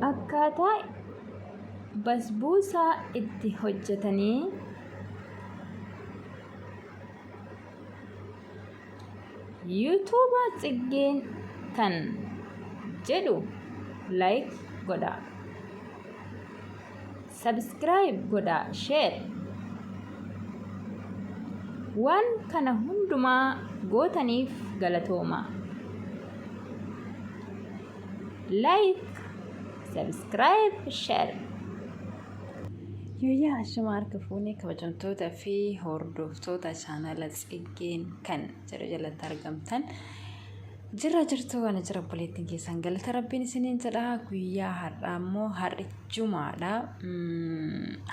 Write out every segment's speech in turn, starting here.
akkaataa basbuusaa itti hojjetanii yuutuuba tsiggeen kan jedhu like godhaa Subscribe godhaa share Waan kana hundumaa gootaniif galatoomaa. Like, subscribe, share. Yooyyaa ashama harka fuunee kabajamtoota fi hordoftoota chaanala tsiggeen kan jedhu jalatti argamtan Jirra jirtuu ana jira obboleettiin keessan galata rabbiin isiniin jedha guyyaa har'aa immoo har'i jumaadha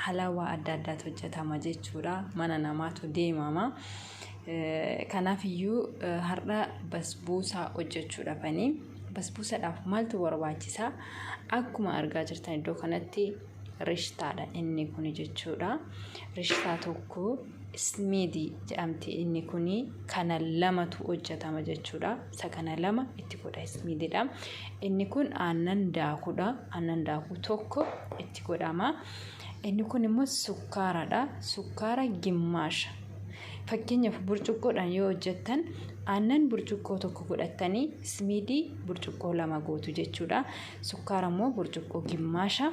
halawaa adda addaatu hojjetama jechuudha mana namaatu deemama kanaaf iyyuu har'a basbuusaa hojjechuudha fanii basbuusadhaaf maaltu barbaachisaa akkuma argaa jirtan iddoo kanatti rishtaadha inni kun jechuudha rishtaa tokko Ismiidi jedhamti inni kuni kana lamatu hojjetama jechuudha. Isa kana lama itti godha ismiididha. Inni kun aannan daakudha. Aannan daakuu tokko itti godhama. Inni kun immoo sukkaaradha. Sukkaara gimmaasha. Fakkeenyaaf burcuqqoodhaan yoo hojjettan aannan burcuqqoo tokko godhattanii ismiidii burcuqqoo lama gootu jechuudha. Sukkaara immoo burcuqqoo gimmaasha.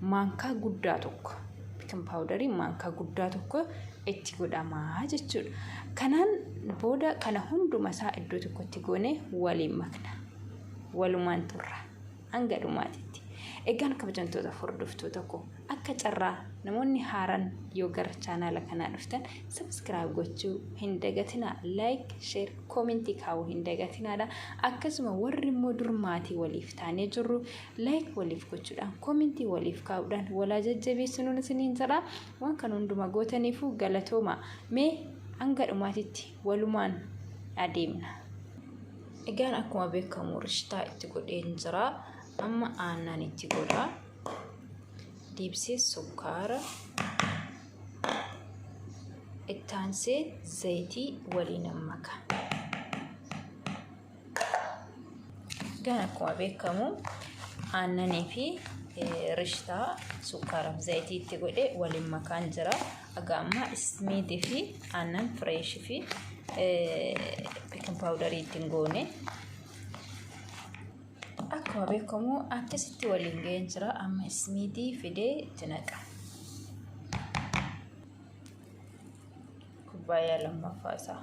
maankaa guddaa tokko bikin paawudarii maankaa guddaa tokko itti godhamaa jechuudha. Kanaan booda kana hunduma isaa iddoo tokkotti goone waliin makna. Walumaan turra. Hanga dhumaatitti. Egaan kabajamtoota hordoftoota koo akka carraa namoonni haaran yoo gara chaanaala kanaa dhuftan sabiskiraayib gochuu hin dagatinaa laayik sheer koomentii kaa'uu hin dagatinaadha akkasuma warri immoo dur maatii waliif taanee jirru like waliif gochuudhaan koomentii waliif kaa'uudhaan walaa jajjabeessinuun isiniin jedha waan kan hunduma gootaniifuu galatooma mee hanga dhumaatitti walumaan adeemna. Egaan akkuma beekamu rishtaa itti godheen jira amma aannan itti godha deebisee sukkaara ittaansee zayitii waliin maka. Egaa akkuma beekamu aannanii fi rishtaa sukkaaraaf zayitii itti godhe waliin makaan jira. Egaa amma ismiidii fi aannan fireeshii fi beekin paawudarii ittiin goone. Akkuma beekamu akkasitti waliin ga'een jira. Amma ismiidii fidee itti naqa. Kubbaayyaa lammaffaa isaa.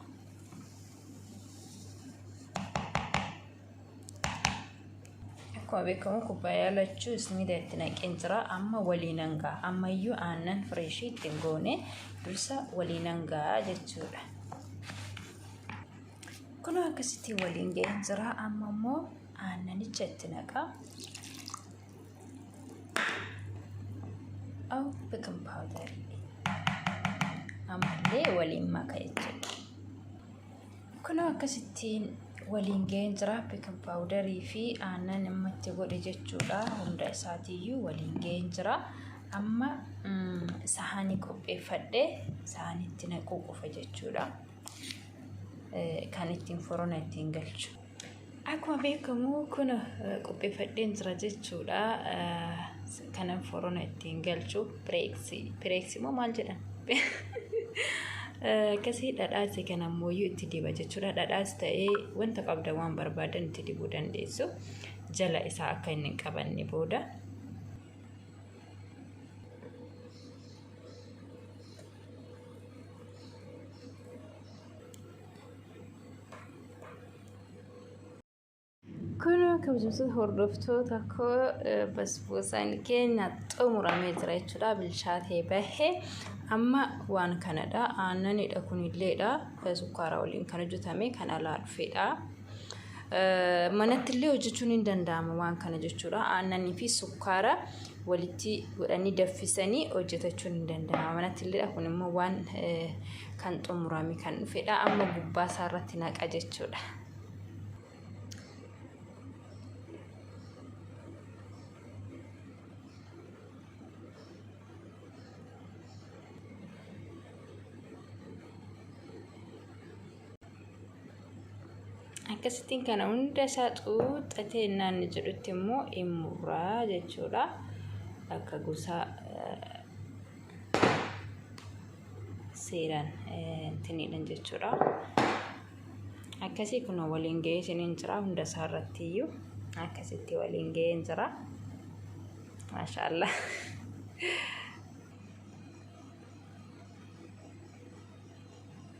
Akkuma beekamu kubbaayyaa lachuu isniida itti naqeen jira. Amma waliin hangaa. Ammayyuu aannan fireeshii itti hin goone dursa waliin hangaa jechuudha. Kunoo akkasitti waliin ga'een jira. Amma immoo aannanicha itti naqaa. Aw bikin powder. Ammallee waliin maka jechuudha. Kunoo akkasittiin waliin ga'een jira bikin powderii fi aannan amma itti godhe jechuudha. Hunda isaatiiyyuu waliin ga'een jira. Amma sahaanii qopheeffadhe sahaanitti naquu qofa jechuudha. Kan ittiin furona ittiin galchu. Akkuma beekamu kun qopheeffadheen jira jechuudha. Kanan forona ittiin galchu pireeksi. Pireeksi moo maal jedhan? Akkasii dhadhaasi kan ammoo itti diba jechuudha. Dhadhaas ta'ee wanta qabda waan barbaadan itti dibuu dandeessu. Jala isaa akka inni hin qabanne booda. Kunoo kabajamtoota hordoftoota koo basboosaan keenya xumuramee jira jechuudha. Bilchaatee bahee amma waan kanadha. Aannanidha kunilleedha. Sukkaara waliin kan hojjetame kan alaa dhufedha. Manatti illee hojjechuun hin danda'ama waan kana jechuudha. Aannanii fi sukkaara walitti godhanii daffisanii hojjetachuun hin danda'ama. Manatti illee kun immoo waan kan xumurame kan dhufedha. Amma gubbaa isaa irratti naqa jechuudha. akkasittiin kana hunda isaa xuuxxatee naanni jedhutti immoo in murraa jechuudha akka gosa seeraan tiniidhan jechuudha akkasii kun waliin ga'ee isiniin jira hunda isaa irratti iyyuu akkasitti waliin ga'ee jira maashaallah